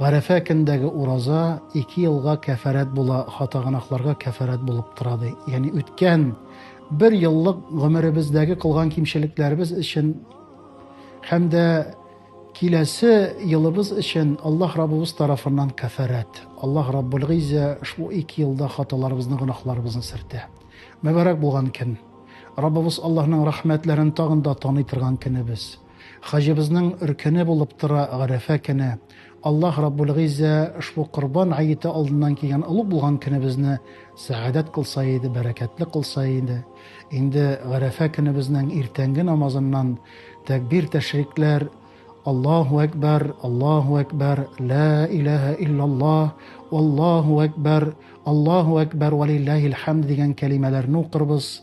Гарәфә көнендәге ураза ике елга кәфарәт була, хата-гөнаһларга кәфарәт булып тора, ди. Ягъни үткән бер еллык гомеребездәге кылган кимчелекләребез өчен һәм дә киләсе елыбыз өчен Аллаһ Раббыбыз тарафыннан кәфарәт. Аллаһ Раббул Гыйззә шул ике елда хаталарыбызны, гөнаһларыбызны сөртә. Мөбарәк булган көн. Раббыбыз Аллаһның рәхмәтләрен тагын да таный торган көнебез. Хаҗыбызның өркене булып тора Гарәфә көне. Аллаһ Раббул Гыйззә ошбу Корбан гаете алдыннан килгән олуг булган көнебезне сәгадәт кылса иде, бәрәкәтле кылса иде. Инде Гарәфә көнебезнең иртәнге намазыннан тәкбир тәшрикләр Аллаһу әкбәр, Аллаһу әкбәр, лә иләһә иллаллаһ, Аллаһу әкбәр, Аллаһу әкбәр вә лилләһил хәмд дигән кәлимәләрне укырбыз.